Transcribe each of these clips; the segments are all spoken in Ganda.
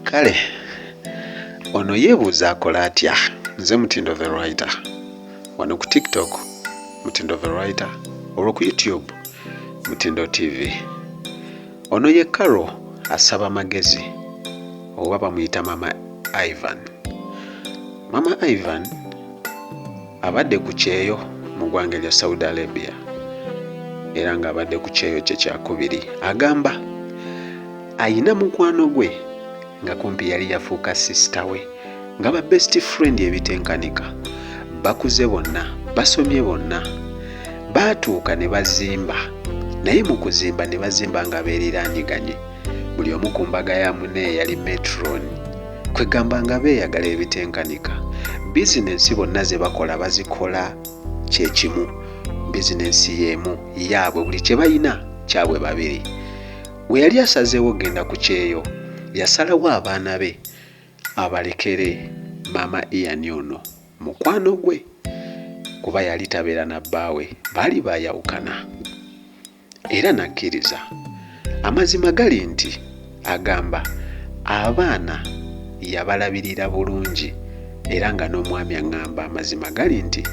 kale ono yeebuuza akola atya nze mutindo the writer wano ku tiktok mutindo the writer olwo ku youtube mutindo tv ono ye caro asaba magezi oba bamuyita mama ivan mama ivan Abadde ku kyeyo mu gwanga lya Saudi Arabia era nga abadde ku kyeyo kye kyakubiri agamba ayina mukwano gwe nga kumpi yali yafuuka sisita we nga ba best friend ebitenkanika bakuze bonna basomye bonna baatuuka ne bazimba naye mu kuzimba ne bazimba nga beeriranyiganye buli omu ku mbaga ya mune yali metron kwegamba nga beeyagala ebitenkanika bizinensi bonna ze bakola bazikola kyekimu bizinensi y'emu yaabwe buli kye balina kyabwe babiri we yali asazeewo okugenda ku kyeyo yasalawo abaana be abalekere maama iyani ono mukwano gwe kuba yali tabeera na bbaawe baali baayawukana era n'akkiriza. Amazima gali nti agamba abaana yabalabirira bulungi era nga n'omwami aŋŋamba amazima gali nti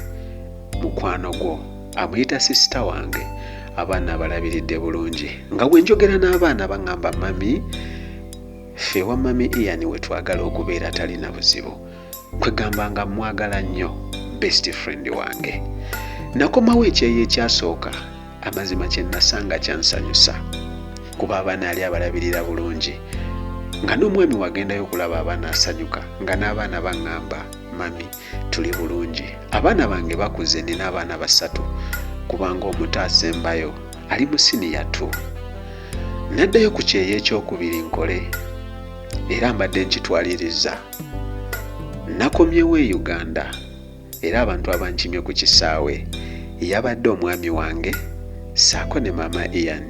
mukwano gwo amuyita sisita wange abaana abalabiridde bulungi nga bwe njogera n'abaana baŋŋamba mami ffe wa mami ian we twagala okubeera talina buzibu kwegamba nga mwagala nnyo best friend wange nakomawo ekyeyo ekyasooka amazima kyenasanga kyansanyusa kuba abaana ali abalabirira bulungi nga n'omwami wagendayo okulaba abaana asanyuka nga n'abaana baŋŋamba mami tuli bulungi abaana bange bakuze nina abaana basatu kubanga omuto asembayo ali mu siniya t naddayo ku kyeyo ekyokubiri nkole era mbadde nkitwaliriza Nakomyewo e Uganda era abantu abankimye ku kisaawe yabadde omwami wange ssaako ne maama Ian.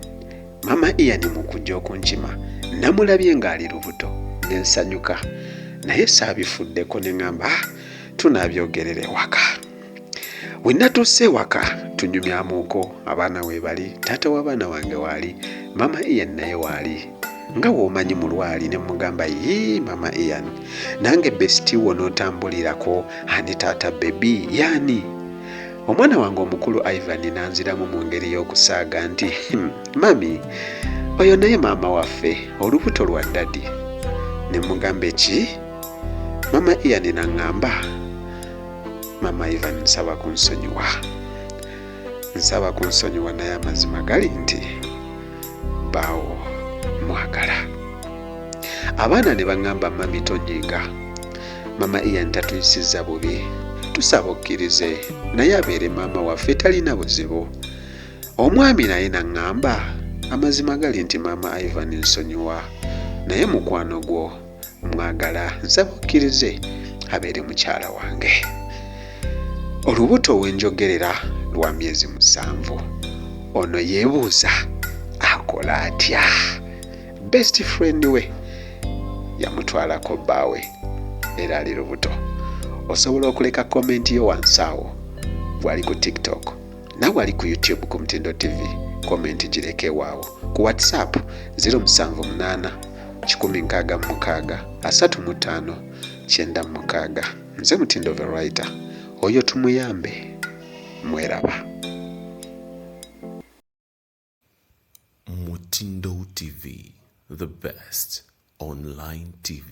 Maama Ian mu kujja okunkima namulabye ng'ali lubuto ne nsanyuka naye saabifuddeko ne ng'amba ah, tunabyogerera ewaka. wenatuuse ewaka tunyumyamuko abaana webali taata w'abaana wange waali mama ian naye waali nga womanyi mulwali ne mugamba yii mama ian nange besiti wo notambulirako ani taata bebi yaani omwana wange omukulu ivan nanziramu mu ngeri y'okusaaga nti hmm, mami oyo naye maama waffe olubuto lwa dadi ne mugamba eki mama ian naŋŋamba mama ivan nsaba kunsonyiwa nsaba kunsonyiwa naye amazima gali nti baawo mwagala abaana ne baŋŋamba mami tonyiiga mama ian tatuyisiza bubi tusaba okkirize naye abeere maama waffe talina buzibu omwami naye naŋŋamba amazima gali nti maama ivan nsonyiwa naye mukwano gwo mwagala nze mukkirize abeere mukyala wange olubuto wenjogerera lwa myezi musanvu ono yeebuuza akola atya best friend we yamutwalako bbaawe era ali lubuto osobola okuleka komenti yo wansi awo bwali ku tiktok nawe ali ku youtube ku mutindo tv komenti gireke waawo ku whatsapp 078 kikumi nkaaga mu mukaaga asatu mu ttaano kyenda mu mukaaga nze mutindo the writer oyo tumuyambe mweraba mutindo tv the best online tv